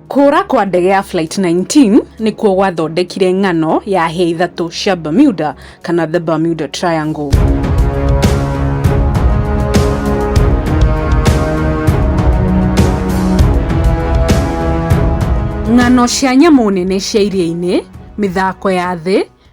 Kũũra kwa ndege ya Flight 19 nĩkuo gwathondekire ng'ano ya hĩa ithatũ cia Bermuda kana the Bermuda Triangle. Ng'ano cia nyamũ nene cia iria-inĩ, mĩthako ya thĩ,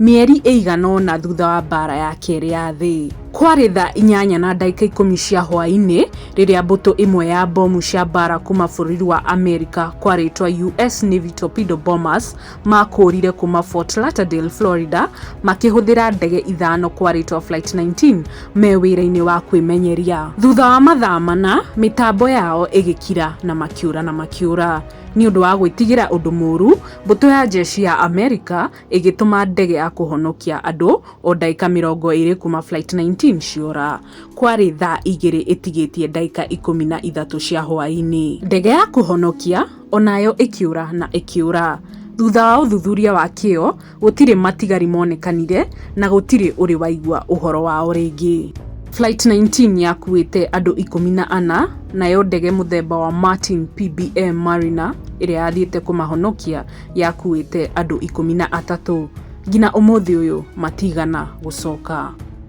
Mĩeri ĩigana ũna thutha wa mbaara ya kerĩ ya thĩ, kwarĩ thaa inyanya na ndagĩka ikũmi cia hwaĩ-inĩ rĩrĩa mbũtũ ĩmwe ya mbomu cia mbaara kuuma bũrũri wa Amerika kwa rĩĩtwa US Navy Torpedo Bombers maakũũrire kuuma Fort Lauderdale, Florida, makĩhũthĩra ndege ithano kwa rĩĩtwa Flight 19 me wĩra-inĩ wa kwĩmenyeria. Thutha wa mathaa mana, mĩtambo yao ĩgĩkira na makĩũra na makĩũra. Nĩ ũndũ wa gwĩtigĩra ũndũ mũũru, mbũtũ ya njeshi ya Amerika ĩgĩtũma ndege ya kũhonokia andũ o ndagĩka mĩrongo ĩrĩ kuma Flight 19 ciora. Kwarĩ thaa igĩrĩ ĩtigĩtie ndagĩka ikũmi na ithatũ cia hwaĩ-inĩ. Ndege ya kũhonokia onayo ĩkĩũra na ĩkĩũra. Thutha wa ũthuthuria wa kĩo, gũtirĩ matigari monekanire na gũtirĩ ũrĩ waigua ũhoro wao rĩngĩ. Flight 19 yakuĩte andũ ikũmi na ana, nayo ndege mũthemba wa Martin PBM Mariner ĩrĩa yathiĩte kũmahonokia yakuĩte andũ ikũmi na atatũ ngina ũmũthĩ ũyũ matigana gũcoka.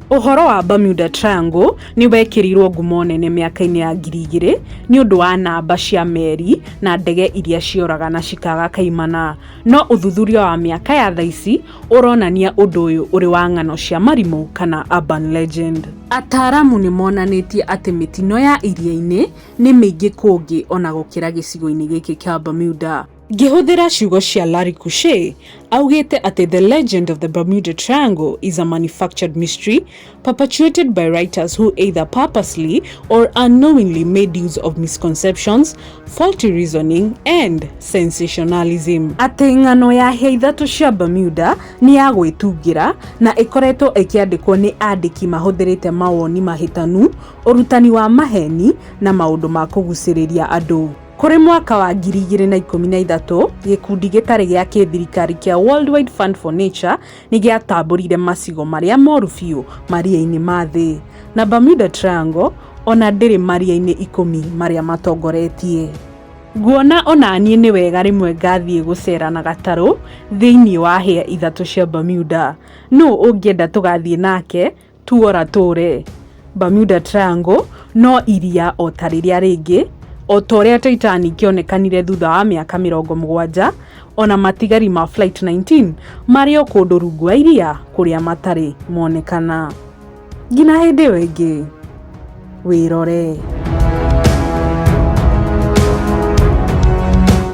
Ũhoro wa Bermuda Triangle nĩ wekĩrirũo ngumo nene mĩaka-inĩ ya ngiri igĩrĩ nĩ ũndũ wa namba cia meri na ndege iria cioraga na cikaga kaimana. No ũthuthuria wa mĩaka ya tha ici ũronania ũndũ ũyũ ũrĩ wa ng'ano cia marimũ kana urban legend. Ataaramu nĩ monanĩtie atĩ mĩtino ya iria-inĩ nĩ mĩingĩ kũngĩ ona gũkĩra gĩcigo-inĩ gĩkĩ kĩa Bermuda. Ngĩhũthĩra ciugo cia Larry Kushe, augĩte atĩ The Legend of the Bermuda Triangle is a manufactured mystery perpetuated by writers who either purposely or unknowingly made use of misconceptions, faulty reasoning and sensationalism. Atĩ ng'ano ya hĩa ithatũ cia Bermuda nĩ ya gwĩtungĩra na ĩkoretwo ĩkĩandĩkwo nĩ andĩki mahũthĩrĩte mawoni mahĩtanu, ũrutani wa maheni na maũndũ ma kũgucĩrĩria andũ. Kũrĩ mwaka wa 2013, gĩkundi gĩtarĩ gĩa kĩthirikari kĩa Worldwide Fund for Nature nĩ gĩatambũrire macigo marĩa moru biũ maria-inĩ ma thĩ, na Bermuda Triangle o na ndĩrĩ maria-inĩ ikũmi marĩa matongoretie. Nguona o na niĩ nĩ wega rĩmwe ngathiĩ gũceera na gatarũ thĩinĩ wa hĩa ithatũ cia Bermuda. Nũũ ũngĩenda tũgathiĩ nake Tuora Tũre, Bermuda Triangle, no iria o ta rĩrĩa rĩngĩ, o ta ũrĩa Titanic yonekanire thutha wa mĩaka mĩrongo mũgwanja, o na matigari ma Flight 19 marĩ o kũndũ rungu wa iria kũrĩa matarĩ monekana. Ngina hĩndĩ ĩyo ĩngĩ, wĩrore.